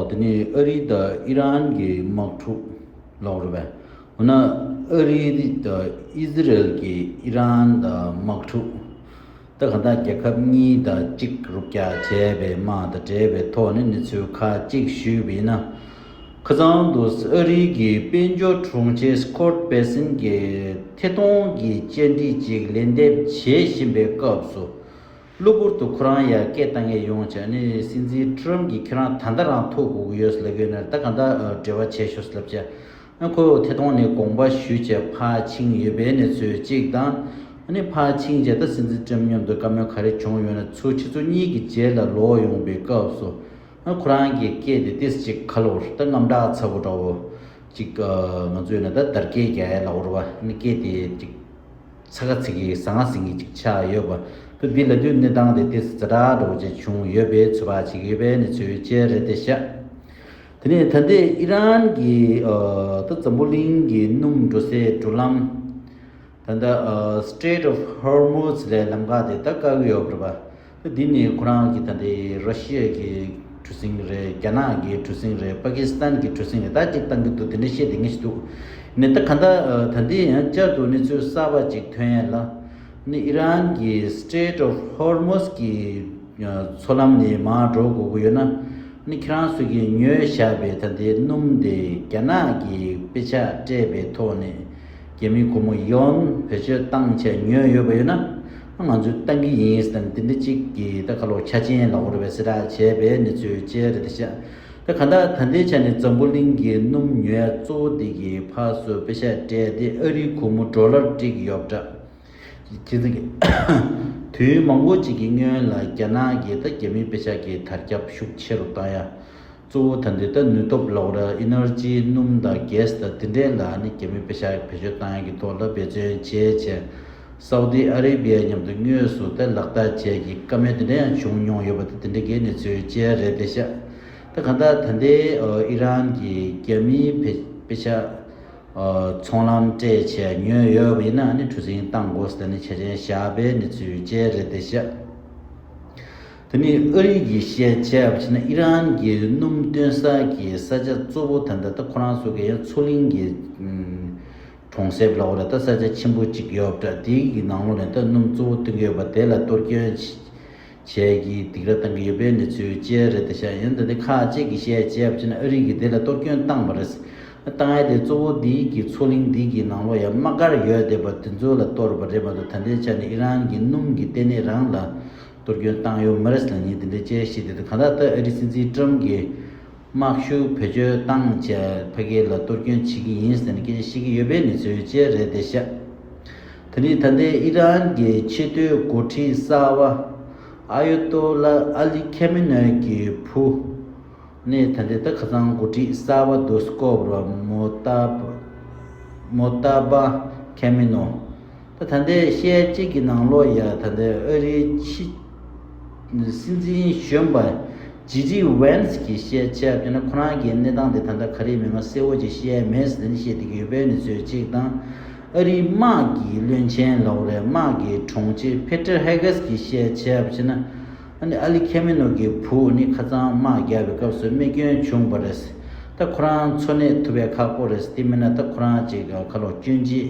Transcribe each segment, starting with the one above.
འདི་ནི་ཨ་རི་དང་ཨི་རན་གྱི་དམག་འཁྲུག་ལོགས་རེད་པས། འོ་ན་ཨ་རི་དང་ཨི་ཟི་རལ་གྱིས་ཨི་རན་དང་དམག་འཁྲུག་ད་ག་འདྲ་རྒྱལ་ཁབ་གཉིས་དང་གཅིག་རུབ་རྒྱག་བྱས་པའི་དམག་དང་འབྲེལ་བའི་ཐོག་ནས་གནས་ཚུལ་ཁག་གཅིག་ཞུས་པ་ཡིན་ན། ཁ་ཚང་དུ་ཨ་རི་གྱི་དཔལ་འབྱོར་དྲུང་ཆེ་སི་ཁོར་པེ་སིན་གྱིས་ཐད་གཏོང་གི་བཅར་འདྲི་ཅིག་ལན་འདེབས་བྱེད་བཞིན་པའི་སྐབས་སུ། གློ་བུར་དུ་ཁོ་རང་ཡར་སྐད་བཏང་ངེས་ཡོང་བྱས་ནས་སྲིད་འཛིན་ཁྲི་རམ་གྱིས་ཁྱེད་རང་ད་ལྟ་རང་ཐོ་གོ་གི་ཡོད་ཟེར་ལབ་ཡོད་ནར་ད་གང་དག་འབྲེལ་བ་བྱས་ཤོག་ཟེར་ལབ་བྱས། ཨ་ཁོས་འོ་ཐེ་ཐོང་ནས་དགོངས་པ་ཞུས་བྱས་ཕ་ཆིང་ཡོད་པའི་གནས་ཚུལ་གཅིག་དང། ཨ་ནི་ཕ་ཆིང་བྱས་ད་སྲིད་འཛིན་ཁྲི་རམ་མཉམ་དུ་བཀའ་མོལ་ག་རེ་བྱུང་ཡོད་ན་ཚུར་ཁྱེད་ཚོ་གཉིས་ཀྱི་རྗེས་ལ་ལོག་ཡོང་པའི་སྐབས་སུ། ཨ་ཁོ་རང་གིས་སྐད་དེ་ཏིས་ཅིག་ཁ་ལོར་ད་རྔམ་སྐྲག་ཚ་བོ་འདྲ་བོ་ཅིག་ང་ཚོས་ན་ད་དར་རྒྱས་རྒྱལ་ལ་བོར་བ་ཨ་ནི་སྐད་དེ་ཅིག། ཚ་ཁ་ཚིག་གིས་གཟའ་ང་ཟིག་གིས་ཅིག་ཆགས་ཡོད་པ་བུ་འདི་ལ་དུས་གནས་སྟངས་དེ་ཏི་ཟ་དྲག་དྲོ་བྱེད་བྱུང་ཡོད་པའི་ཚོད་དཔག་བྱེད་ཀྱི་ཡོད་པའི་གནས་ཚུལ་བཅས་རེད་དེ་ཤ། དེ་ནས་ད་ལྟའི་ཨི་རན་གྱི་ཏི་ཛམ་བུ་གླིང་གི་སྣུམ་འགྲོ་སའི་འགྲོ་ལམ། ད་ལྟ Strait of Hormuz ལས་ལམ་ཁ་དེ་ད་དཀའ་གི་ཡོད་རེད་པ། འདི་ནི་ཁོ་རང་གི་ད་ལྟའི་ར་ཤི་ཡ་གི་གྲུ་གཟིངས་རེད་རྒྱ་ནག་གི་གྲུ་གཟིངས་རེད་པ་ཀི་སི་ཐན་གི་གྲུ་གཟིངས་རེད་ད་ཅིག་བཏང་གི་འདུག་དེ་འདྲ་བཤད་དེ་ངེས་ཤིག་འདུག་ནི་ད་ག་འདྲ་ད་འདི་ཡང་བསྐྱར་དུ་གནས་ཚུལ་གསར་པ་ཅིག་ཐོན་ཡས་ལ། ནི་ཨི་རན་གི Strait of Hormuz གི་མཚོ་ལམ་ནི་མར་འགྲོ་དགོས་ཀྱི་ཡོད་ན། ནི་ཁྱེད་རང་ཚོས་ཀྱི་ཉོས་བཞག་པའི་ད་ལྟའི་སྣུམ་དེ་རྒྱ་ནག་གི་དཔེ་ཆ་སྤྲད་པའི་ཐོག་ནས། རྒྱ་མིའི་སྒོར་མོ་ཡོན་བེད་སྤྱོད་བཏང་བྱས་ཉོས་ཡོད་པ་ཡོད་ན། ང་ཚོས་བཏང་གི་ཡིན་ཟེར་ན་འདི་འདྲ་ཅིག་གི་ད་ཁ་ལོ་ཁྱ་ཅན་ལ་འོར་བའི་སེ་གྲགས་བྱས་པའི་གནས་ཚུལ་བཅས་རེད་དེ་ཤ་ད་ག་འདྲ་ད་འདི་ཆ་ནི་འཛམ་བུ་གླིང་གི་སྣུམ་ཉོས་གཙོ་བོ་འདི་གི་ཕ་སུ་དཔེ་ཤ་སྤྲད་དེ་ཨ་རིའི་གུར་མོ་འགྲོ་སླར་བསྒྲིགས་ཡོད་འདྲ། ཁྱེད་ཚང་གི་དུས་མང་བོ་ཅིག་གི་སྔོན་ལ་རྒྱ་ནག་གིས་ད་རྒྱ་མིའི་དཔེ་ཤ་གི་དར་ཁྱབ་ཤུགས་ཆེ་རུ་བཏང་ཡ། གཙོ་བོ་ད་འདི་ལྟར་ནུས་སྟོབས་གློག་ར Energy སྣུམ་དང Gas དང་དེ་འདྲའི་ལ་ནི་རྒྱ་མིས་བེད་ཤ་བེད་སྤྱོད་བཏང་ཡ་གི་ཐོག་ལ་འབད་བརྩོན་བྱས་བྱས། Saudi Arabia མཉམ་དུ་དངོས་སུ་དེ་ལག་བསྟར་བྱས་ཀྱི་དཀའ་མེད་དེ་འདྲ་ཡང་བྱུང་མྱོང་ཡོད་པ་དེ་དེ་འདྲ་གའི་གནས་ཚུལ་བཅས་རེད་བདེ་ཤ་ད་ག་ད་ད་འདི Iran གི་རྒྱ་མིའི་བེད་བེད་ཤ་ཚོང་ལམ་སྤྲད་བྱས་མྱོས་ཡོད་པ་ཡིན་ན་ནི་གྲུ་གཟིངས་བཏང་དགོས་ཟེར་ནས་བྱས་ཅན་བཞག་པའི་གནས་ཚུལ་བཅས་རེད་བདེ་ཤ། དེ་ནི་ཨ་རིའི་གི་ཤེས་བྱས་པ་ཕྱིན་ན་ཨི་རན་གི་སྣུམ་བཏོན་ས་གི་ས་ཆ་གཙོ་བོ་དེ་འདྲ་སྟེ་ཁོ་རང་ཚོ་གི་ཡང་མཚོ་གླིང་གི་གྲོང་གསེབ་ལ་འོ་རེད་ད་ས་ཆ་ཆེན་པོ་གཅིག་ཡོད་འདྲ་དེའི་གི་ནང་ལོགས་ནས་ད་སྣུམ་གཙོ་བོ་བཏོན་གི་ཡོད་པ་དེ་ལ་གཏོར་སྐྱོན་བྱས་གི་འདིག་ར་བཏང་གི་ཡོད་པའི་གནས་ཚུལ་བཅས་རེད་ད་ཤག་ཡིན་ད་དེ་ཁག་ཅིག་གི་ཤེས་བྱས་པ་ཕྱིན་ན་ཨ་རིའི་གི་དེ་ལ་གཏོར་སྐྱོན་བཏང་བ་རེད། བཏང་ཡས་དེ་གཙོ་བོ་འདིའི་གི་མཚོ་གླིང་འདིའི་གི་ནང་ལོགས་ཡང་དམག་སྒར་ཡོད་འདི་པ་དེ་ཚོ་ལ་གཏོར་བ་རེད་མ་གཏོགས་ད་འདྲའི་ཆ་ནས་ཨི་རན་གི་སྣུམ་གི་ལྟེ་གནས་རང་ལ་གཏོར་སྐྱོན་བཏང་ཡོད་མི་རེ་ཟུང་གཉིས་འདི་འདྲའི་དཔྱད་གཞི་འདི་དང་གང་ལྟར་ཏཱ་ཨེ་རི་སྲིད་འཛིན་ཀྲུམ་གྱིས་དམག་ཤུགས་བེད་སྤྱོད་བཏང་བཅས་ཕ་གི་ལ་གཏོར་སྐྱོན་བྱེད་ཀྱི་ཡིན་ཟེར་ནས་སྐད་ཆ་བཤད་ཀྱི་ཡོད་པའི་གནས་ཚུལ་བཅས་རེད་བདེ་གཤེགས་དེ་ནི་ད་ལྟའི་ཨི་རན་གྱི་ཆེས་མཐོའི་འགོ་ཁྲིད་གསར་བ་ཨ་ཡོ་ཏོ་ལ་ཨ་ལི་ཁེ་མེ་ནོའི་གྱི་བུ་ནི་ད་ལྟའི་ད་ཁ་སང་འགོ་ཁྲིད་གསར་བ་རྡོ་སི་ཀོབ་རོ་མོ་ཏཱ་མོ་ཏཱ་པཱ་ཁེ་མེ་ནོ། ད་ལྟའི་ཤེལ་དཀྱིལ་གྱི་ནང་ལོ་ཡ་ད་ལྟའི་ཨ་རིའི་ཕྱི་སྲིད་འཛིན་གཞོན་པ་ཇི་ཇི་ཝན་སི་གིས་བཤད་ཆ་ཕེབས་ན་ཁོ་རང་གི་གནས་སྟངས་དེ་ད་ལྟ་ག་རེ་མིན་ང་གསལ་བོ་ཅིག་ཤེས་མེད་ཟེར་ནས་བཤད་བསྡད་ཀྱི་ཡོད་པའི་ནི་ཚོད་ཅིག་དང། ཨ་རིའི་དམག་གི་བློན་ཆེན་ལོ་རེ་དམག་གི་དྲུང་ཆེ་ཕེ་ཏེར་ཧེ་གེ་སི་གིས་བཤད་ཆ་ཕྱིན་ན་ཨ་ནི་ཨ་ལི་ཁེ་མེ་ནོ་གི་བུ་ནི་ཁ་ཚང་དམག་རྒྱག་པའི་སྐབས་སུ་རྨས་སྐྱོན་བྱུང་བ་རེད་ད་ཁོ་རང་འཚོ་གནས་ཐུབ་པའི་ཁག་པོ་རེད་དེ་མིན་ན་ད་ཁོ་རང་ཅིག་ཁ་ལོ་སྐྱོན་ཅིག་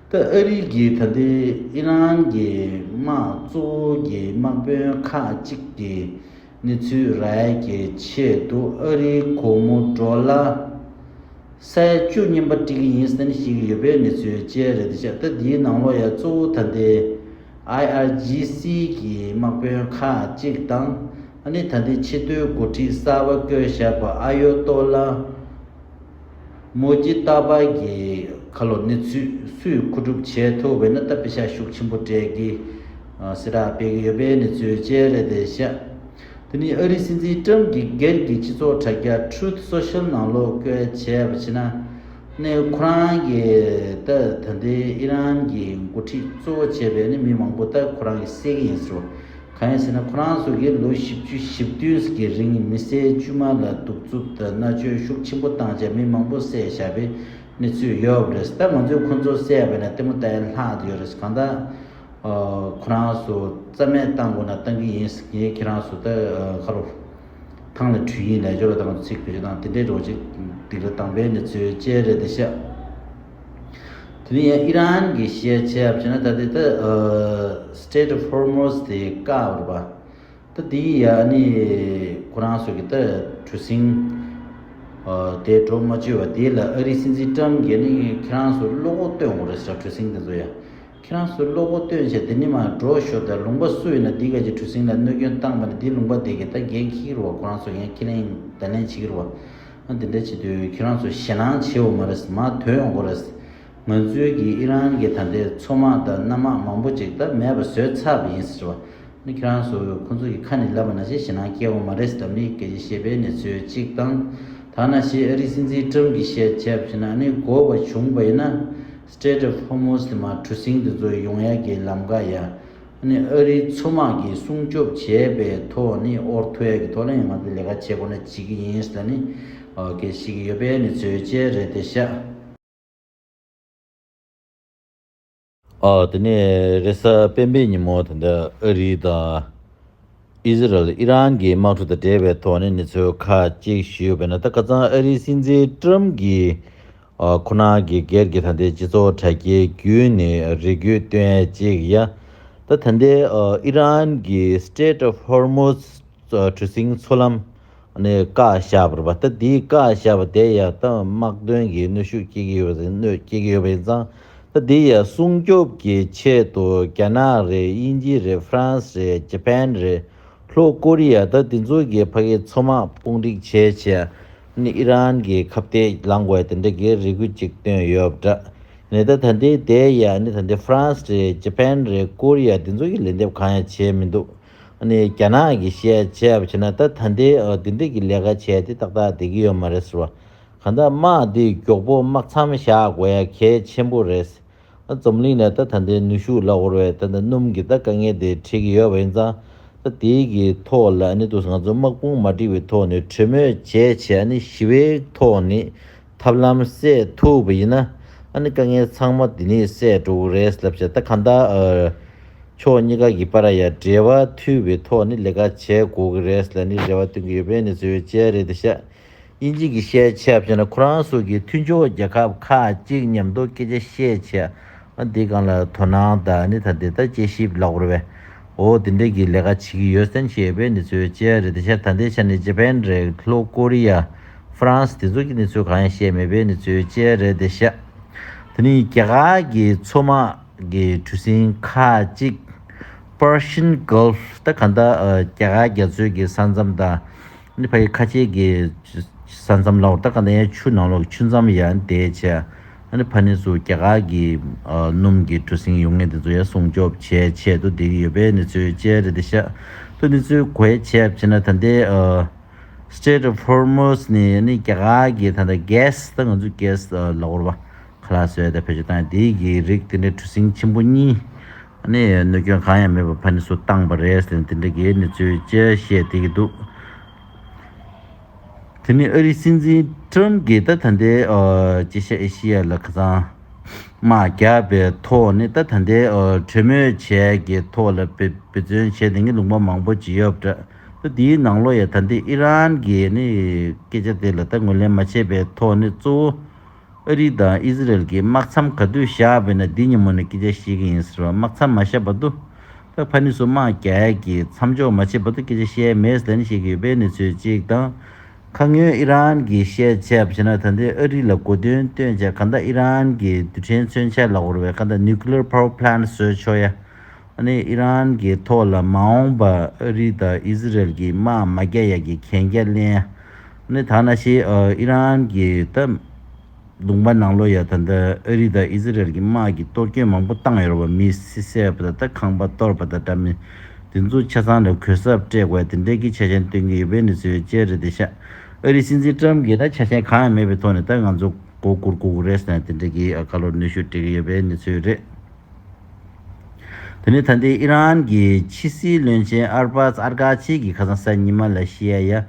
སྐབས་ཨ་རིའི་རྒྱལ་ད་ལྟའི་ཨི་རན་གྱི་དམག་གཙོ་བོ་གྱི་དམག་དཔོན་ཁག་ཅིག་གིས་གནས་ཚུལ་རལ་གྱི་ཆེད་དུ་ཨ་རིའི་གོ་མོ་ཏྲོ་ལ་སའི་བཅུ་གཉིས་པ་སྤྲི་གི་ཡིན་བསམ་ཞིག་ཡོད་པའི་གནས་ཚུལ་བཅས་རེད་འདུག་ཤ་སྟག་འདིའི་ནང་ལོ་ཡ་གཙོ་བོ་ད་ལྟའི IRGC གྱི་དམག་དཔོན་ཁག་ཅིག་དང་ཨ་ནི་ད་ལྟའི་ཆེ་མཐོའི་འགོ་ཁྲིད་གསར་བ་སྐོས་ཞབས་པ་ཨ་ཡོ་ཏོ་ལ་མོ་རྒྱུད་རྟ་བར་གྱི་ཁ་ལོ་ནི་ཚོས་སུས་ཁུ་སྒྲུབ་བྱས་ཐུབ་བས་ན་རྟ་དཔེ་ཆ་ཤུགས་ཆེན་པོ་སྤྲད་ཀི་སི་རག་སྤེལ་གི་ཡོད་པས་ནི་ཚོས་བཅད་རེད་དེ་བཤད། དེ་ནི་ཨ་རིའི་སྲིད་འཛིན་ཀྲམ་གྱི་སྒེར་གྱི་སྤྱི་ཚོགས་དྲ་རྒྱ Truth Social ནང་བློ་བཀལ་བྱས་པ་བྱས་ན་ནི་ཁོ་རང་གི་ད་ད་ལྟའི་ཨི་རན་གྱི་འགོ་ཁྲིད་གཙོ་བོ་བྱས་པས་ནི་མི་མང་པོ་ད་ཁོ་རང་གི་བསད་ཀི་ཡིན་ཟེར་བ། གང་ཡིན་ཟེར་ན་ཁོ་རང་ཚོ་གིས་ལོ་བཞི་བཅུ་བཞི་བདུན་གྱི་རིང་མི་སེར་དཀྱུས་མ་ལ་གདུག་རྩུབ་དང་མནར་གཅོད་ཤུགས་ཆེན་པོ་བཏང་རྗེས་མི་མང་པོ་བསད་བཞག་པའི་གནས་ཚུལ་ཡོད་པ་རེད་ད་ང་ཚོས་ཁོ་ཚོ་བསད་པ་ནས་ལྟད་མོ་བལྟ་ཡས་ལྷག་ཡོད་རེད་གང་ལྟར་ཁོ་རང་ཚོ་རྩ་མེད་བཏང་དགོས་ན་བཏང་གི་ཡིན་ངས་ཁྱེད་རང་ཚོ་ལྟར་ཁ་ལོ་ཐང་ལ་དྲུད་ཡིན་ལས་འབྱོར་བ་དང་ཚིག་བེད་སྤྱོད་དང་དེ་འདྲའི་རོགས་བྱེད་སྡིག་ར་བཏང་པའི་གནས་ཚུལ་བཅས་རེད་དེ་ཤ། དེ་ནས་ཡང་ཨི་རན་གྱི་ཤེས་བྱ་བྱས་ན་ད་དེ་ད Strait of Hormuz དེ་བཀག་འོད་པ། ད་དེ་ཡི་ཡ་ནི་ཁོ་རང་སོ་གི་ད་གྲུ་གཟིངས་དེ་གྲོ་མ་བཅོས་བ་དེ་ལ་ཨ་རིའི་སྲིད་འཛིན་ཀྲམ་གྱི་ནི་ཁྱེད་རང་སོ་བློ་ཁོག་སྟོན་འོང་རེད་ས་གྲུ་གཟིངས་དེ་ཚོ་ཡ། ཁྱེད་རང་སོ་བློ་ཁོག་སྟོན་བྱས་དེ་ནི་མ་འགྲོ་ཤོག་ད་ལུང་པ་སུ་ཡིན་ན་དེ་ག་གྱི་གྲུ་གཟིངས་ལ་གནོད་སྐྱོན་བཏང་པ་ནི་དེ་ལུང་པ་དེ་གི་ད་འགན་ཁྱི་གི་རུ་བ་ཁོ་རང་སོ་ཡ་ཁྱི་ལེན་ད་ལེན་བྱེད་ཀྱི་རུ་བ། ང་འདི་འདྲ་བྱེད་དུས་ཁྱེད་རང་ཚོ་ཞེད་སྣང་བྱེད་འོ་མ་རེད་མ་དོན་འོ་འགོ་རེད། ང་ཚོའི་གི་ཨི་རན་གི་ད་ལྟའི་མཚོ་དམག་དང་གནམ་དམག་མང་པོ་ཅིག་ད་མེད་པ་བཟོས་ཚར་བ་ཡིན་ཟེར་བ། ནི་ཁྱེད་རང་ཚོ་ཁོ་ཚོ་གི་ཁ་ནས་ལབ་པ་ན་ཞེད་སྣང་སྐྱེ་འོ་མ་རེད་ཟེར་མི་གལ་ཆེ་ཤེས་པའི་གནས་ཚུལ་ཅིག་དང། ཐ་ན་ཞེས་ཨ་རིའི་སྲིད་འཛིན་ཏྲམ་གི་བཤད་བྱས་པ་བཞིན་ན་ནི་འགོ་བ་བྱུང་བ་ཡིན་ན། Strait of Hormuz། དེ་མ་གྲུ་གཟིངས་དེ་ཚོ་ཡོང་ཡ་གི་ལམ་ཀ་ཡ། ཨ་རིའི་མཚོ་དམག་གིས་སྲུང་སྐྱོབ་བྱས་པའི་ཐོག་ནི་ཨོར་ཐོད་ཀྱི་ཐོག་ལ་ཡང་ང་ཚོས་ལས་ཀ་བྱེད་དགོས་ན་བྱེད་ཀྱི་ཡིན་ཟེར་ནི་གི་ཞིག་གི་ཡོད་པས་ནི་བཟོད་བཅད་རེད་དེ་ཤ། དེ་ནས་རེས་གཟའ་སྤེན་པའི་ཉིན་མོ་དེ་འདི་ཨ་རི་དང Israel ཨི་རན་གྱི་དམག་གྲུ་དང་འབྲེལ་བའི་ཐོག་ནི་ནི་ཚོས་ཁ་གཅིག་ཞུས་པས་ན་ད་ཀ་ཚང་ཨ་རིའི་སྲིད་འཛིན Trump གིས་ཁོ་ན་གི་སྒེར་གྱི་ད་ལྟའི་སྤྱི་ཚོགས་དྲ་རྒྱའི་རྒྱུད་ནི་རིགས་རྒྱུད་སྟོན་གཅིག་ཡ། ད་ད་ལྟའི་ཨི་རན་གྱི Strait of Hormuz གྲུ་གཟིངས་མཚོ་ལམ་ནི་བཀའ་ཤག་པར་པ་ད་དེའི་བཀའ་ཤག་པ་དེ་ཡ་ད་དམག་དོན་གྱི་གནོད་ཤུགས་སྐྱེ་གི་ཡོད་པ་གནོད་སྐྱེ་གི་ཡོད་པ་ཡིན་ཙང་ད་དེ་ཡ་སྲུང་སྐྱོབ་ཀྱི་ཆེད་དུ་རྒྱ་ནག་རེད་དབྱིན་ཇི་རེད་ཧྥ་རན་སི་རེད Japan རེད། ལྷོ་ཀོ་རི་ཡ་དང་དེ་ཚོ་གི་ཕ་གི་མཚོ་དམག་དཔུང་སྒྲིག་བྱས་རྗེས་ནི་ཨི་རན་གི་ཁ་བརྡས་ལངས་བའི་དེ་འདྲ་གི་རེ་སྒུག་ཅིག་བཏོན་ཡོད་པ་འདྲ། ནས་ད་ད་འདི་དེ་ཡ་ནི་ད་འདི France རེད Japan རེད་ཀོ་རི་ཡ་དེ་ཚོ་གི་ལན་འདེབས་གང་ཡང་བྱས་མི་འདུག་ནི་རྒྱ་ནག་གི་བཤད་བྱས་པ་བྱས་ན་ད་ད་འདི་དེ་འདྲ་གི་ལས་ཀ་བྱས་ཏེ་ཏག་ཏག་བསྡད་ཀྱི་ཡོད་མ་རེད་ཟེར་བ། གང་ལྟར་དམག་འདི་མགྱོགས་པོ་དམག་མཚམས་བཞག་དགོས་ཡ་གལ་ཆེན་པོ་རེད། རྩོམ་གླིང་ནས་ད་ད་ལྟའི་ནུས་ཤུགས་ལ་བོར་བའི་ད་ད་སྣུམ་གྱི་ད་དཀའ་ངལ་དེ་འཕྲད་ཀྱི་ཡོད་པ་ཡིན་ཙང་ད་དེའི་གི་ཐོག་ལ་ནི་དུས་ང་ཚོ་དམག་དཔུང་མ་བསྒྲིགས་པའི་ཐོག་ནས་གྲོས་མོལ་བྱས་བྱས་ནི་ཞི་བའི་ཐོག་ནི་ཐབས་ལམ་བསྲེས་ཐུབ་པ་ཡིན་ན་ནི་དཀའ་ངལ་ཚང་མ་དེ་ནི་བསྲེས་འགྲོ་གི་རེད་ལབ་བྱས་ད་གང་ལྟར་ཕྱོགས་གཉིས་ཀ་གི་པར་ཡང་འབྲེལ་བ་མཐུད་པའི་ཐོག་ནི་ལས་ཀ་བྱས་དགོས་ཀྱི་རེད་ལ་ནི་རེ་བ་བཏོན་གྱི་ཡོད་པས་ནི་བཟོད་བྱས་རེད་ད་བཤད། དབྱིན་ཇི་གི་བཤད་བྱ་བཞིན་ལ་ཁོ་རང་སོགས་ཀྱི་མཐུན་ཕྱོགས་རྒྱལ་ཁབ་ཁག་ཅིག་ཉམས་རྟོགས་སྐད་ཆ་བཤད་བྱ་འདི་སྒང་ལ་དོ་སྣང་དང་ནི་ད་འདི་ལྟར་དཔྱད་ཞིབ་ལག་བོར་བས་འོ་དེ་འདྲས་ཀྱི་ལས་ཀ་བྱེད་ཀྱི་ཡོད་སེམས་ཞེས་པའི་ནི་ཚོའི་དཔྱད་རེད་དེ་ཆ་ད་འདའི་ཆ་ནི་ཇེ་པན་རེད་ལྷོ་ཀོ་རི་ཡ་ཧྥི་རན་སི་དེ་ཚོ་གྱི་ནི་ཚོས་གང་ཡང་བཤད་མེད་པའི་ནི་ཚོའི་དཔྱད་རེད་དེ་ཤ་དེ་ནི་རྒྱ་གར་གྱི་མཚོ་དམག་གི་གྲུ་གཟིངས་ཁག་ཅིག Persian Gulf ད་ག་འདའ་རྒྱ་གར་རྒྱ་མཚོའི་གི་ས་མཚམས་དང། ནི་ཕ་ཡི་ཁ་ཆེ་གི། ས་མཚམས་ལ་ཏཱ་ག་ན་ཡའི་ཆུ་ནང་ལོགས་ཀྱི་ཆུ་མཚམས་ཡ་འདས་བྱས། ནི་ཕ་ནི་ཚུ་རྒྱ་གར་གྱི། སྣུམ་གྱི་གྲུ་གཟིངས་ཡུག་ངན་དེ་ཚོ་ཡ་སྲུང་སྐྱོབ་བྱས་ཆེད་དུ་འདི་གི་ཡོད་པས་ནི་ཚུའི་སྤྱན་རས་དེ་ཤཱ་ཏུ་ནི་ཚུའི་གོ་ཡའི་ཆས་བྱས་ན་ད་ལྟའི། Strait of Hormuz ནི་ནི་རྒྱ་གར་གྱི་ད་ལྟ gas ད་ང་ཚོའི gas ལ་བོར་བ། ཁ་ལག་སོས་དང་བེད་སྤྱོད་བཏང་དེའི་གི་རིགས་དེ་འདྲའི་གྲུ་གཟིངས་ཆེན་པོ་གཉིས། ནི་གནོད་སྐྱོན་གང་ཡང་མེད་པར་ཕ་ནི་སུ་བཏང་པ་རེད་ཟེར་ནས་དེ་འདྲ་གི་གནས་ཚུལ་བཅས་བཤད་བསྡད་ཀྱི་འདུག་དེ་ནི་ཨ་རིའི་སྲིད་འཛིན Trump གིས་ད་ད་འདའི་ཅི་ཤ་ཨེ་ཤི་ཡ་ལ་ཁ་ཚང་མ་རྒྱག་པའི་ཐོག་ནས་ད་ད་འདའི་གྲོས་མོལ་བྱས་ཀྱི་ཐོག་ལ་བེད་བརྩོན་བྱས་དེ་གི་ལུང་པ་མང་པོ་བརྗེ་ཡོད་པ་འདྲ་འདའི་ནང་ལོ་ཡ་ད་འདའི་ཨི་རན་གི་ནི་སྐད་ཆ་དེ་ལ་ད་ངོས་ལེན་མ་བྱས་པའི་ཐོག་ནས་གཙོ་བོ་ཨ་རི་དང་ཨི་ཟི་རལ་གྱི་དམག་མཚམས་ག་དུས་བཞག་པའི་ནང་འདི་ཉིན་མོ་ནས་སྐད་ཆ་བཤད་ཀྱི་ཡིན་ཟེར་བ་དམག་མཚམས་མ་བཞག་པ་དུ་བྷེ་ཕ་ནི་སུ་དམག་རྒྱལ་གྱི་མཚམས་འཇོག་མ་བྱས་པ་དུ་སྐད་ཆ་བཤད་མེད་ཟེར་ནས་བཤད་ཀྱི་ཡོད་པའི་གནས་ཚུལ་གཅིག་དང། ཁ་སྔོན་ཨི་རན་གྱིས་བཤད་ཆས་བྱས་ན་ད་ལྟའི་ཨ་རི་ལ་གོ་དོན་སྟོན་ཆ་ག་འདའ་ཨི་རན་གྱི་རྡུལ་ཕྲན་མཚོན་ཆ་ལ་བོར་བའི་ག་འདའ Nuclear Power Plant བཟོས་ཆོག་ཡ་ཨ་ནི་ཨི་རན་གྱི་ཐོག་ལ་མ་འོངས་པ་ཨ་རི་དང་ཨི་ཟི་རལ་གྱི་དམག་མ་རྒྱག་ཡ་གྱི་གན་རྒྱ་གླེང་ཡ། ནི་ཐ་ན་ཤི་ཨི་རན་གྱི་སྟབས་བདུང་པ་ནང་ལོ་ཡ་ད་ལྟ་ཨ་རི་དང་ཨི་ཟི་རལ་གྱི་དམག་གིས་གཏོར་སྐྱོན་མང་པོ་བཏང་ཡོད་པ་མི་སེར་བསད་པ་ད་ལྟ་ཁང་པ་གཏོར་བ་དང་འདྲ་མིན་དེ་ཚོ་ཆ་ཚང་ལས་གོས་སྲབ་སྤྲས་དགོས་དེ་འདྲས་ཀྱི་ཆ་ཆེན་སྟོན་གྱི་ཡོད་བེ་ནི་སི་ཝེ་ཅལ་རེད་དེ་ཤ་ཨ་རི་སྲིད་འཛིན་ཀྲམ་གྱིས་ད་ཆ་ཆ་ཆེན་གང་ཡང་མེད་པའི་ཐོག་ནས་ད་ང་ཚོ་མགོ་སྒུར་གུག་རེས་ནས་དེ་འདྲས་ཀྱི་ཨ་ཀ་ལོར་གནོད་ཤུགས་སྤྲད་ཀྱི་ཡོད་བེ་ནི་ཚོད་རེད། དེ་ནི་ད་ལྟའི་ཨི་རན་གྱི་ཕྱི་སྲིད་བློན་ཆེན་ཨར་པཱ་ཟ་ཨར་ག་ཆི་གྱི་ཁ་སང་གསར་ཉི་མ་ལ་ཤི་ཨ་ཡ་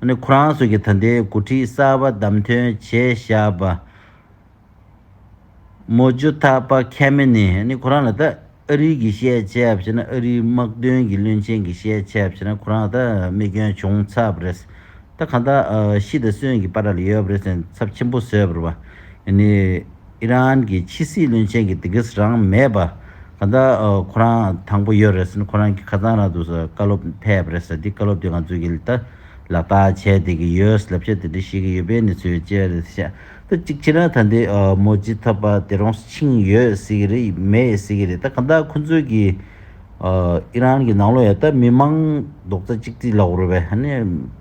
ནས་ཁོ་རང་ཚོ་གི་ད་ལྟའི་འགོ་ཁྲིད་གསར་པ་བདམས་ཐོན་བྱས་བཞག་པ། མོ་ཇོ་ཐ་པ་ཁེ་མེ་ནི་ནི་ཁོ་རང་ལ་ད་ཨ་རིའི་གི་ཤེས་བྱས་བྱས་ན་ཨ་རིའི་དམག་དོན་གི་བློན་ཆེན་གི་ཤེས་བྱས་བྱས་ན་ཁོ་རང་ད་རྨས་སྐྱོན་བྱུང་ཚར་བ་རེད། ད་གང་ལྟར་ཤི་ད་གསོན་གི་པ་ར་ལ་ཡོད་པ་རེད་ཚབ་ཆེན་པོ་བཟོས་པར་བ་ནི། ཨི་རན་གྱི་ཕྱི་སྲིད་བློན་ཆེན་གྱི་དེ་གིས་རང་མེད་པ། ད་ལྟ་ཁོ་རང་དང་པོ་ཡོད་རེད་ཟེར་ནས་ཁོ་རང་གི་ཁ་རྩང་ར་འདུག་ཟེར་བཀའ་སློབ་འཐད་ཡོད་པ་རེད་ཟེར་དེ་བཀའ་སློབ་དེ་ང་ཚོས་ཀྱིས་ལག་བསྟར་བྱས་བསྡད་ཀྱི་ཡོད་ཟེར་ལབ་བྱ་དེ་འདྲ་ཤེས་ཀྱི་ཡོད་པའི་གནས་ཚུལ་ཡོད་ཅེས་རེད་བཤད་ད་གཅིག་བྱས་ན་ད་འདི་མོ་ཇི་ཐོབ་པ་དེ་རང་ཕྱིན་ཡོད་ཟེར་གྱི་རེད་མེད་ཟེར་གྱི་རེད་ད་གང་ལྟར་ཁོ་ཚོས་ཀྱིས་ཨི་རན་གྱི་ནང་ལོག་ཡོད་ད་མི་མང་རྡོག་རྩ་གཅིག་སྒྲིལ་ལ་འོ་རེད་བས་ཧ་ནས་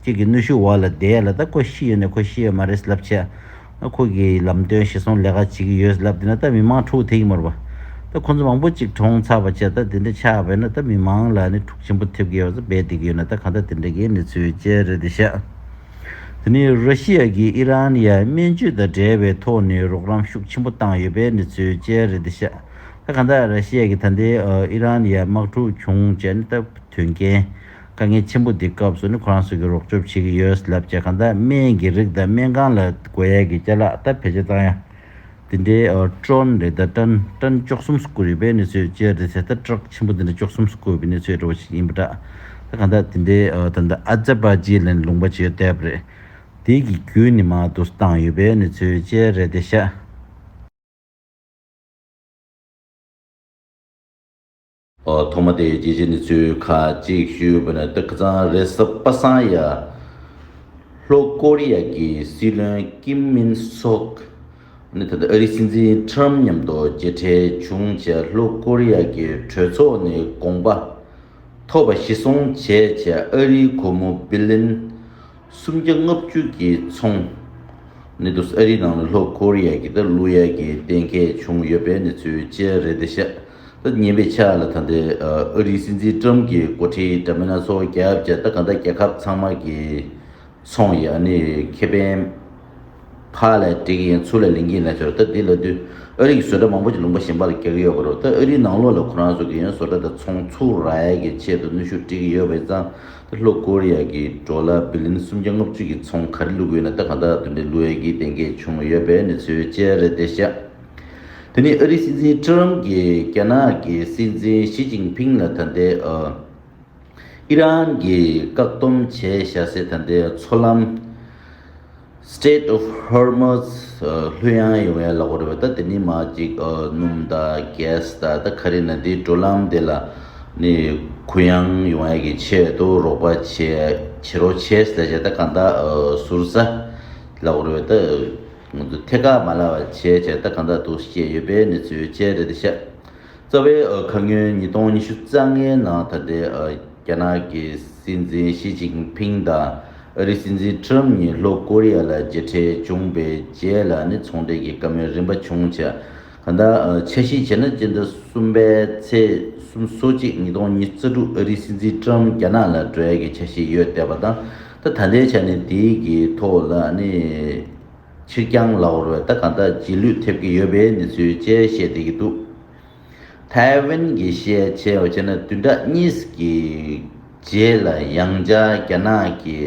ཁྱེད་ཀྱི་གནོད་ཤུགས་འོག་ལ་བསྡད་ལ་ད་ཁོ་ཤི་ཡོད་ནས་ཁོ་ཤི་ཡོད་མ་རེད་ཟེར་ལབ་བྱ། ཁོ་གིས་ལམ་སྟོན་ཞིག་སོང་ལས་ཀ་བྱེད་ཀྱི་ཡོད་ལབ་དེ་ན་ད་མི་མང་ཕྲུག་དེ་ཡིན་མོར་བ། ད་ཁོ་ཚོ་མང་པོ་ཅིག་གྲོངས་ཚར་བ་བྱས་ད་དེ་འདྲ་ཆགས་བས་ན་ད་མི་མང་ལ་ནི་ཕྲུག་ཆེན་པོ་ཐེབས་ཀྱི་ཡོད་བཟོ་བས་དེ་གི་ཡོད་ན་ད་གང་ད་དེ་འདྲ་གི་གནས་ཚུལ་བཅས་རེད་དེ་ཤག་དེ་ནི་ར་ཤི་ཡ་གིས་ཨི་རན་ཡར་སྨན་བཅོས་དང་འབྲེལ་བའི་ཐོག་ནས་རོགས་རམ་ཤུགས་ཆེན་པོ་བཏང་ཡོད་པའི་གནས་ཚུལ་བཅས་རེད་དེ་ཤག་ད་གང་ད་ར་ཤི་ཡ་གིས་ད་ལྟའི་ཨི་རན་ཡར་དམག་འཁྲུག་བྱུང་བྱས་ནས་ད་དོན་རྐྱེན་དཀའ་ངལ་ཆེན་པོ་འདི་སྐབས་སུ་ནི་ཁོ་རང་ཚོས་ཀྱི་རོགས་སྐྱོབ་བྱེད་ཀྱི་ཡོད་ལབ་ཀྱི་གང་ལྟར་སྨན་གྱི་རིགས་དང་སྨན་ཁང་ལ་དགོས་ཡས་ཀྱི་བསྐྱར་ལག་བསྟར་བེད་སྤྱོད་བཏང་ཡང། དེ་འདྲའི་ཀྲོན་རེད་ད་ཀྲན་ཀྲན་ཅོག་གསུམ་སུ་བཀོད་ཡོད་པའི་གནས་ཚུལ་སྤྱིར་དེ་ཚེ་ད་བཀྲག་ཆེན་པོ་འདི་འདྲ་ཅོག་གསུམ་སུ་བཀོད་པའི་གནས་ཚུལ་འདྲ་བོ་ཞིག་ཡིན་པ་འདྲ། ད་གང་ལྟར་དེ་འདྲའི་ད་ལྟ་ཨ་ཛ་པ་ཇི་ལན་ལུང་པ་ཇོས་དེབ་རེད། དེའི་གི་བརྒྱུད་ནི་མ་དུ་སུ་བཏང་ཡོད་པའི་གནས་ཚུལ་སྤྱིར་རེད་དེ་ཤ། ཐོག་མ་དེའི་རྒྱལ་སྤྱི་ནི་ཚོའི་ཁ་གཅིག་ཤུད་པ་ནས་ཏག་ཙང་རེད་ས་པ་སང་ཡ། ལྷོ་ཀོ་རི་ཡ་གི་སྲིད་བློན་ཀིམ་མིན་སོག་ནི་ད་ལྟ་ཨ་རིའི་སྲིད་འཛིན་ཁྲམ་མཉམ་དུ་མཇལ་འཕྲད་བྱུང་བྱས་ལྷོ་ཀོ་རི་ཡ་གི་གྲོས་ཚོགས་ནས་དགོངས་པ་ཐོབ་པ་གཞི་བཟུང་བྱས་བྱས་ཨ་རིའི་གོ་མོ་སྦི་ལིན་སུམ་བརྒྱ་ལྔ་བཅུ་གི་ཚོང་ནི་དུ་ཨ་རིའི་ནང་ལ་ལྷོ་ཀོ་རི་ཡ་གི་ད་ལོ་ཡ་གི་གཏན་འཁེལ་བྱུང་ཡོད་པའི་ནི་ཚོའི་བཅད་རེད་ད་ཤ་ཉེན་པའི་ཆ་ལ་ད་ལྟའི་ཨ་རིའི་སྲིད་འཛིན་ཀྲུམ་གྱི་འགོ་ཁྲིད་འདྲ་མིན་སྣ་ཚོགས་རྒྱ་བསྐྱེད་ད་ག་ཟླ་རྒྱལ་ཁབ་ཚང་མ་གི་ཚོང་ཡི་ཨ་ནི་ཁེ་ཕན་ཕ་ལ་འགྲིག་གིན་ཚུར་ལ་ལེན་གིན་ལ་ཆོག་ད་འདི་ལ་དུས་ཨ་རི་གི་བཟོ་གྲ་མང་པོ་ཅིག་ལུང་པ་ཞིམ་པ་ལ་རྒྱག་གི་ཡོད་པ་རུ་ད་ཨ་རིའི་ནང་ལོག་ལ་ཁོ་རང་བཟོ་གིན་ཡོད་བཟོ་གྲ་དང་ཚོང་ཚུར་ར་ཡལ་གི་ཆེད་དུ་གནོད་ཤུགས་སྤྲད་གིན་ཡོད་པ་ཡིན་ཙང་ད་ལྷོ་ཀོ་རི་ཡ་གི་འགྲོ་ལ་བི་ལིན་སུམ་བརྒྱ་ལྔ་བཅུ་གི་ཚོང་ག་རེ་བླུག་གི་ཡོད་ན་ད་ག་ཟླ་དུ་འདྲེ་བླུག་ཡ་གི་གཏན་འཁེལ་བྱུང་ཡོད་པའི་གནས་ཚུལ་བཅས་རེད་དེ་ཤ་དེ་ནས་ཨ་རིའི་སྲིད་འཛིན་ཁྲི་རམ་གྱིས་རྒྱ་ནག་གི་སྲིད་འཛིན་ཞི་ཅིང་ཕིང་ལ་ད་ལྟའི་ཨི་རན་གྱི་བཀག་སྡོམ་བྱས་བྱ་སའི་ད་ལྟའི་མཚོ་ལམ། Strait of Hormuz། ལྷོད་ཡངས་ཡོང་བའི་གླ་ཕོགས་རེད་བ་ད་དེ་ནི་མ་གཅིག་སྣུམ་དང Gas དང་ད་ག་རེ་ན་དེའི་འགྲོ་ལམ་དེ་ལ་ནི་གུ་ཡངས་ཡོང་བ་གི་ཆེད་དུ་རོགས་པ་བྱེད་རོགས་བྱས་ཟེར་བྱས་ད་གང་དག་ཟུར་ཟ་གླ་ཕོགས་རེད་བ་ད། སྔོན་དུ་ཐད་ཀར་མ་ལག་བར་ཆད་ཆད་ལྟ་གང་དག་ཏུ་སྐྱེས་ཡོད་པའི་གནས་ཚུལ་བཅས་རེ་རེ་བཤད། རྩ་བའི་ཁ་སྔོན་ཉིས་སྟོང་ཉི་ཤུ་རྩ་ལྔའི་ནང་ད་ལྟའི་རྒྱ་ནག་གི་སྲིད་འཛིན་ཞི་ཅིང་ཕིང་དང་ཨ་རིའི་སྲིད་འཛིན་ཁྲི་རམ་གཉིས་ལྷོ་ཀོ་རི་ཡ་ལ་མཇལ་འཕྲད་བྱུང་པའི་རྗེས་ལ་ནི་ཚོང་འབྲེལ་གྱི་བཀའ་མོལ་རིམ་པ་བྱུང་ཆ་གང་དག་ཆ་བཞིན་བྱས་ན་སྤྱི་ཟླ་གསུམ་པའི་ཚེས་གསུམ་སོ་གཅིག་ཉིས་སྟོང་ཉིས་རྩ་དྲུག་ཨ་རིའི་སྲིད་འཛིན་ཁྲི་རམ་རྒྱ་ནག་ལ་བྲོས་ཡས་ཀྱི་ཆ་ཤས་ཡོད་བསྡད་པ་དང། ད་ད་ལྟའི་ཆ་ནས་དེའི་གི་ཐོག་ལ་ནི་ཕྱིར་བསྐྱང་ལ་བོར་བས་ད་གང་དག་རྗེས་ལུས་ཐེབས་ཀྱི་ཡོད་པའི་གནས་ཚུལ་བཅས་བཤད་བསྡད་ཀྱི་འདུག་ཐའེ་ཝན་གྱི་ཤེས་བྱའི་བར་ཆད་ན་བདུན་ཕྲག་གཉིས་ཀྱི་རྗེས་ལ་ཡང་བསྐྱར་རྒྱ་ནག་གི་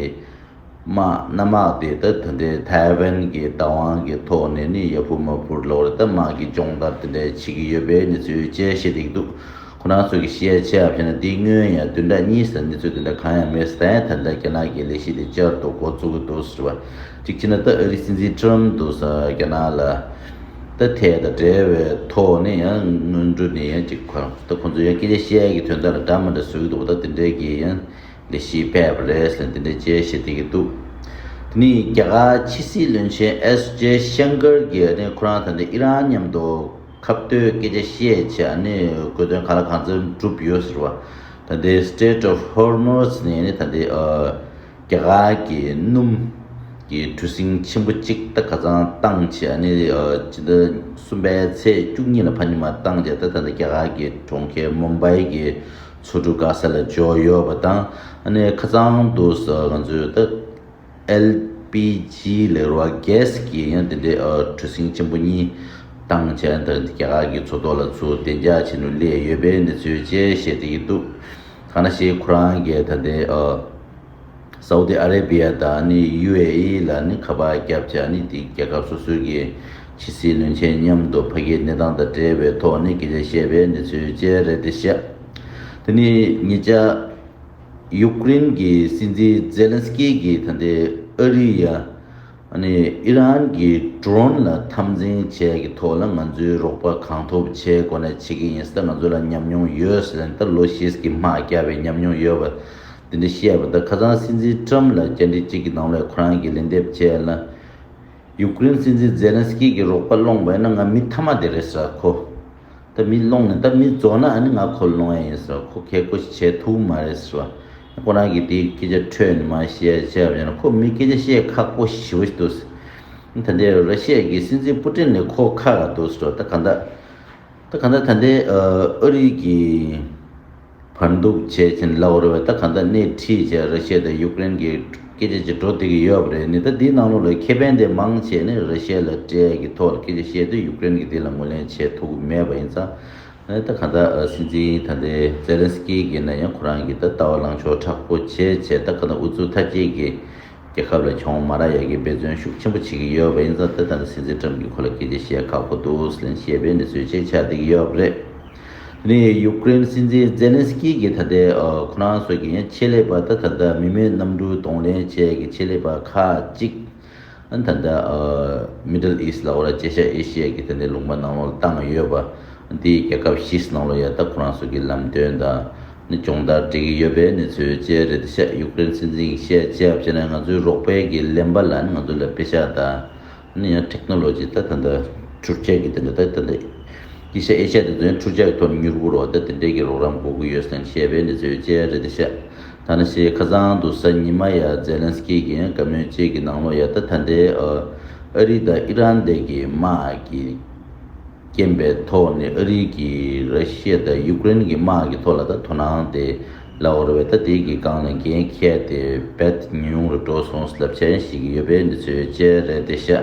དམག་གནམ་དམག་དེ་ད་དུ་འདྲའི་ཐའེ་ཝན་གྱི་བདག་དབང་གི་ཐོག་ནས་ནི་ཡ་ཕུར་མ་ཕུར་ལ་བོར་ད་དམག་གི་སྦྱོང་བརྡར་དེ་འདྲ་བྱེད་ཀྱི་ཡོད་པའི་གནས་ཚུལ་བཅས་བཤད་བསྡད་ཀྱི་འདུག། ཁོ་ནག་ཚོས་ཀྱི་ཤི་ཡ་ཆེ་ཡ་བྱས་ན་དེ་སྔོན་ཡང་དུས་འདྲ་གཉིས་སུ་གནས་ཚུལ་དེ་འདྲ་གང་ཡང་མེད་ཟེར་ད་ཡང་ད་ལྟ་རྒྱ་ནག་གི་ལས་གཞི་དེ་བསྐྱར་དུ་འགོ་བཙུགས་ཀྱི་འདུག་ཟེར་བ་གཅིག་བྱས་ན་ད་ཨ་རིའི་སྲིད་འཛིན Trump འདུག་ཟེར་བ་རྒྱ་ནག་ལ་ད་ཐད་དང་འབྲེལ་བའི་ཐོག་ནས་ཡང་སྔོན་འགྲོ་ནས་ཡང་གཅིག་གོ་ད་ཁོང་ཚོས་ཡང་སྐད་ཆ་བཤད་ཡ་གི་དོན་དག་ལ་འདྲ་མི་འདྲ་བཟོ་གི་འདུག་ད་དེ་འདྲའི་གི་ཡང་ལས་གཞི་སྤེལ་བ་རེད་ཟེར་དེ་འདྲའི་དཔྱད་གཞི་བསྡད་ཀྱི་འདུག་དེ་ནས་རྒྱ་གར་ཕྱི་སྲིད་བློན་ཆེན SJaishankar གྱིས་ཨ་ནི་ཁོ་རང་ད་ནི་ཨི་རན་མཉམ་འདུག། ཁ་བརྡའི་སྐད་ཆ་བཤད་ཆེད་ཨ་ནི་གོ་དོན་ག་ལ་གང་འཚམ་གྲུབ་ཡོད་ཟེར་བ། ད་ལྟའི Strait of Hormuz ནི་ད་ལྟའི་རྒྱ་གར་གྱི་སྣུམ་གྱི་གྲུ་གཟིངས་ཆེན་པོ་གཅིག་ད་ག་ཚང་བཏང་ཆེད་ཨ་ནི་སྤྱི་ཟླ་གསུམ་པའི་ཚེས་བཅུ་གཉིས་ལ་ཕ་ཉི་མ་བཏང་རྗེས་ད་ད་ལྟ་རྒྱ་གར་གྱི་གྲོང་ཁྱེར Mumbai གྱི་མཚོ་གྲུ Gaza ལ་འཇོག་ཡོད་པ་དང་ཨ་ནི་ཁ་ཚང་དུ་ང་ཚོས་ད། LPG ལེགས་རོགས Gas གྱི་ཡང་དེ་འདྲའི་གྲུ་གཟིངས་ཆེན་པོ་གཉིས་ཐང་ཆེན་དང་རྒྱ་གར་གྱི་མཚོ་ཐོག་ལ་ཚུར་བདེ་འཇགས་བྱེད་ནུས་སླེབས་ཡོད་པའི་གནས་ཚུལ་བཅས་བཤད་དེ་ཡི་འདུག་ཐ་ན་ཤེས་ཁུ་རང་གིས་ད་ལྟའི་སའུ་ཏི་ཨ་རེ་པི་ཡ་དང UAE ལ་ནི་ཁ་པར་བརྒྱབ་བྱ་ནི་དེ་རྒྱལ་ཁབ་སོ་སོའི་གི་ཕྱི་སྲིད་བློན་ཆེན་མཉམ་དུ་ཕ་གིའི་གནས་སྟངས་དང་འབྲེལ་བའི་ཐོག་ནས་གལ་ཆེར་བཤད་པའི་གནས་ཚུལ་བཅས་རེད་དེ་བཤད་དེ་ནི་ངེད་ཅག་ཡུཀ་རེན་གྱི་སྲིད་འཛིན་ཛེ་ལན་སི་ཀེ་གྱིས་ད་ལྟའི་ཨ་རི་ཡ་ནི་ཨི་རན་གྱི Drone ལ་འཐམ་འཛིང་བྱས་ཀྱི་ཐོག་ལ་ང་ཚོའི་རོགས་པ་གང་ཐུབ་བྱས་སྒོ་ནས་བྱེད་ཀྱི་ཡིན་ཟེར་ད་ང་ཚོ་ལ་ཉམས་མྱོང་ཡོད་ཟེར་ནས་ད་ལོ་ཤེས་ཀྱི་མ་བསྐྱར་བའི་ཉམས་མྱོང་ཡོད་པ་དེ་འདྲ་བཤད་པ་ད་ཁ་སང་སྲིད་འཛིན Trump ལ་བཅར་འདྲི་གཅིག་གི་ནང་ལས་ཁོ་རང་གིས་ལན་འདེབས་བྱས་ལ་ཡུཀ་རེན་སྲིད་འཛིན་ཛེ་ལན་སི་ཀེ་གྱི་རོགས་པ་སློང་བས་ན་ང་མི་མཐའ་མ་དེ་རེད་ཟེར་གོ། ད་མི་སློང་ནས་ད་མི་རྫོགས་ན་ནི་ང་ཁོ་སློང་ཡ་ཡིན་ཟེར་བ་ཁོ་གལ་ཁོ་བྱེད་ཐུབ་མ་རེད་ཟེར་བ། ཁོ་རང་གིས་དེའི་སྐད་ཆ་འཕྲོས་ནས་མ་བཤད་བྱས་པ་ཡིན་ན་ཁོ་མི་སྐད་ཆ་བཤད་ཁག་པོ་ཞེ་བོ་ཞིག་འདུག་ཟེར། ད་ལྟའི་ར་ཤས་ཀྱི་སྲིད་འཛིན་པུ་ཏྲིན་ལས་ཁོ་ཁ་ལ་འདུག་ཟེར་བ་ད་ག་འདྲ། ད་ག་འདྲ་ད་ལྟའི་ཨ་རི་གི། བར་འདུག་བྱས་ཚིན་ལ་བོར་བའི་ད་ག་ད་སྣེ་ཁྲིད་བྱས་ར་ཤེ་དང་ཡུཀ་རེན་གི་སྐད་ཆ་གཅིག་འགྲོ་དེ་གི་ཡོད་པ་རེད་ནི་ད་དེའི་ནང་ལུགས་ལ་ཁེ་ཕན་དེ་མང་བྱས་ནི་ར་ཤེ་ལ་གྲས་གི་ཐོག་ལ་སྐད་ཆ་བཤད་དུས་ཡུཀ་རེན་གི་དེ་ལ་ངོས་ལེན་བྱས་ཐུག་གི་མེད་པ་ཡིན་ཙང་ནི་ད་ག་ད་སྲིད་འཛིན་ད་དེ་ཛེ་ལེན་སི་ཀི་གི་ན་ཡང་ཁོ་རང་གི་ད་ལྟ་བ་ལང་ཕྱོགས་དྲག་པོ་བྱས་བྱས་ད་ག་ད་འུ་ཚུགས་ཐ་སྐྱེད་གི། རྒྱལ་ཁབ་ལ་ཁྱོང་མཱ་ར་ཡ་གིས་འབད་བརྩོན་ཤུགས་ཆེན་པོ་བྱེད་ཀྱི་ཡོད་པ་ཡིན་ཙང་དེ་ལྟར་ན་སྲིད་འཛིན་ཀྲམ་གྱིས་ཁོ་ལ་གལ་ཆེ་ཞེས་ཁག་པོ་འདུག་ལན་ཞེས་པས་ནི་གཟོད་ཆེས་ཆ་བདེ་གི་ཡོད་པ་རེད། དེ་ནས་ཡུཀ་རེན་སྲིད་འཛིན་ཛེ་ལན་སི་ཀི་གིས་ད་ལྟའི་ཁོ་རང་སོགས་ཀྱི་ཆེད་ལས་པ་དང་ད་ལྟ་མི་མེད་གནམ་གྲུ་གདོང་ལེན་བཅས་ཀྱི་ཆེད་ལས་པ་ཁག་ཅིག་ད་ལྟ Middle East ལ་ཨོ་ར་ཅེ་ཤཱ་ཨེ་ཤི་ཡ་གྱི་ཐད་ནས་ལུང་པ་ནང་ལོགས་བཏང་ཡོད་པ་དེས་རྒྱལ་ཁབ་བཞི་སྣང་ལོ་ཡ་ད་ཁོ་རང་སོགས་ཀྱི་ལམ་སྟོན་དང། ནི་སྦྱོང་བརྡར་སྤྲད་ཀྱི་ཡོད་པའི་གནས་ཚུལ་བཅས་རེད་བཤད་ཡུཀ་རེན་སྲིད་འཛིན་གྱིས་བཤད་རྒྱས་བྱས་ནས་ང་ཚོའི་རོགས་ཕན་གྱི་ལེན་པ་ལ་ནི་ང་ཚོ་ལ་དཔེ་ཆ་དང་ནི་ཡང Technology ད་དེ་འདྲ་འཕྲུལ་ཆས་ཀྱི་དེ་འདྲ་ད་དེ་འདྲ་ཡི་ཤ་ཨེ་ཤ་དེ་ཚོའི་འཕྲུལ་ཆས་ཀྱི་ཐོག་ནས་མྱུར་པོ་རོགས་ཟླ་དེ་འདྲས་ཀྱི་རོགས་རམ་དགོས་ཀྱི་ཡོད་སེམས་བཤད་པའི་གནས་ཚུལ་བཅས་རེད་བཤད་ད་ནི་ཤེས་ཁ་ཚང་དུ་ས་ཉི་མ་ཡ Zelensky གྱིས་དགའ་མོས་བཅས་ཀྱི་ནང་ལོགས་ཡ་ད་ད་འདྲའི་ཨ་རི་དང་ཨི་རན་འདྲས་ཀྱི་དམག་གི། རྐྱེན་པའི་ཐོག་ནས་ཨ་རི་གིས་ར་ཤི་ཡ་དང་ཡུཀ་རེན་གྱི་དམག་གི་ཐོག་ལ་ད་དོ་སྣང་དེ་ལ་ཨོར་བས་ད་དེ་གི་སྒང་ལ་འགན་ཁྱེར་ཏེ་བད་ཉུང་རུ་འགྲོ་སོང་སླབ་བྱ་ཡང་ཞིག་ཡོད་པས་འདི་ཚོའི་དཔྱད་རས་དེ་ཤ།